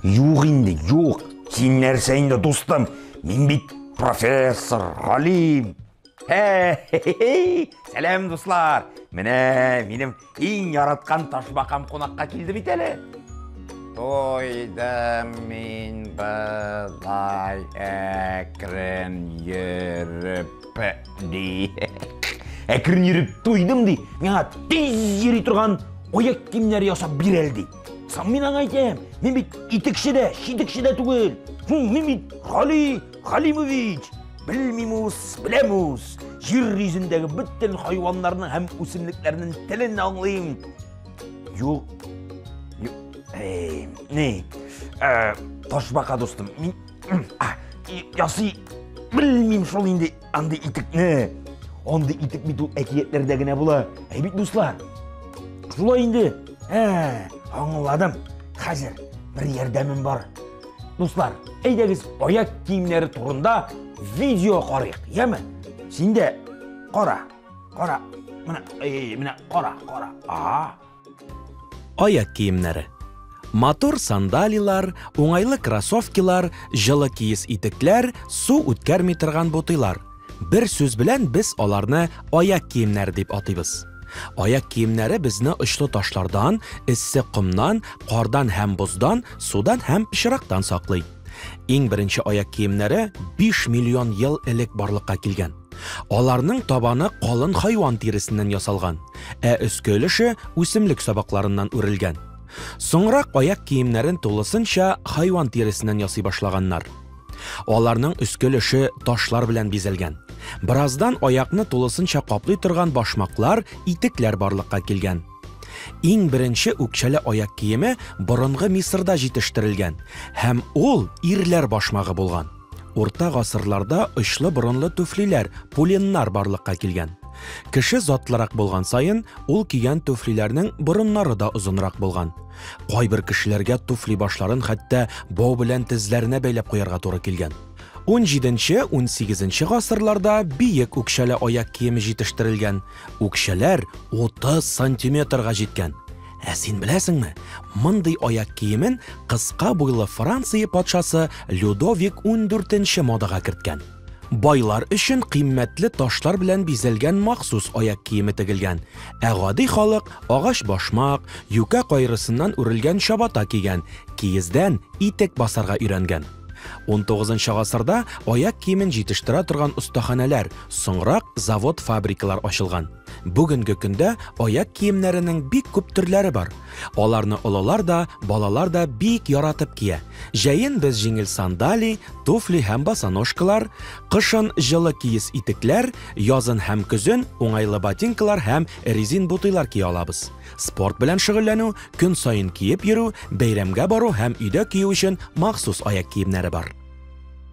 Юк инде, юк. Син нәрсә инде, дустым? Мин бит профессор, галим. Сәлам, дуслар. Менә минем Иң яраткан ташбакам кунакка килде бит әле. Тойдым мин былай әкрен йөреп ди. Әкрен йөреп тойдым ди. Миңа тиз йөри торган аяк киемнәр ясап бирәл ди. Сам мин аңа әйтәм, мин бит итекче дә, шитекче дә түгел. Мин бит Гали Галимович! Белмим ус, беләм ус! Җир йөзендәге бөтен хайваннарның һәм үсемлекләрнең телен аңлыйм. Юк. Ни? Э, Ташбака дустым, мин ясый белмим шул инде андый итекне. Андый итек бит ул әкиятләрдә генә була. Әй бит дуслар. Шулай инде. Ә, аңладым. Хәзер бер ярдәмем бар. Дуслар, әйдәгез аяк киемнәре турында видео карыйк, яме? Син дә кара, кара, менә, эй, менә кара, кара. Ага. Аяк киемнәре. Матур сандалилар, уңайлы кроссовкилар, җылы киез итекләр, су үткәрми торган бутыйлар. Бер сүз белән без аларны аяк киемнәре дип атыйбыз. Аяк киемнәре безне очлы ташлардан, эссе комнан, кардан һәм боздан, судан һәм пычрактан саклый. Иң беренче аяк киемнәре 5 миллион ел элек барлыкка килгән. Аларның табаны калын хайван тиресеннән ясалган, ә өске өлеше үсемлек сабакларыннан үрелгән. Соңрак аяк киемнәрен тулысынча хайван тиресеннән ясый башлаганнар. Аларның өске өлеше ташлар белән бизәлгән. Бераздан аякны тулысынча каплый торган башмаклар, итекләр барлыкка килгән. Иң беренче үкчәле аяк киеме борынгы Мисырда җитештерелгән һәм ул ирләр башмагы булган. Урта гасырларда очлы борынлы түфлиләр, пуленнар барлыкка килгән. Кеше затлырак булган саен, ул кигән түфлиләрнең борыннары да озынрак булган. Кайбер кешеләргә туфли башларын хәтта бау белән тезләренә бәйләп куярга туры килгән. 17-18 гасырларда биек үкчәле аяк киеме җитештерелгән. Үкчәләр 30 сантиметрга җиткән. Ә син беләсеңме, мондый аяк киемен кыска буйлы Франция патшасы Людовик 14 модага керткән. Байлар өчен кыйммәтле ташлар белән бизәлгән махсус аяк киеме тегелгән, ә гади халык агач башмак, юкә кайрысыннан үрелгән чабата кигән, киездән итек басарга өйрәнгән. Унтугызынчы гасырда аяк киемен җитештерә торган остаханәләр, соңрак завод-фабрикалар ачылган. Бүгенге көндә аяк киемнәренең бик күп төрләре бар. Аларны олылар да, балалар да бик яратып кия. Җәен без җиңел сандали, туфли һәм босоножкалар, кышын җылы киез итекләр, язын һәм көзен уңайлы ботинкалар һәм резин бутыйлар кия алабыз. Спорт белән шөгыльләнү, көн саен киеп йөрү, бәйрәмгә бару һәм өйдә кию өчен махсус аяк киемнәре бар.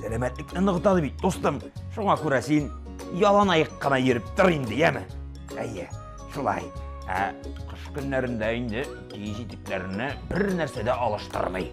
сәламәтлекне ныгытады бит дустым шуңа күрә син ялан аяк кына йөреп тор инде яме әйе шулай ә кыш көннәрендә инде киез итекләрне бер нәрсә дә алыштырмый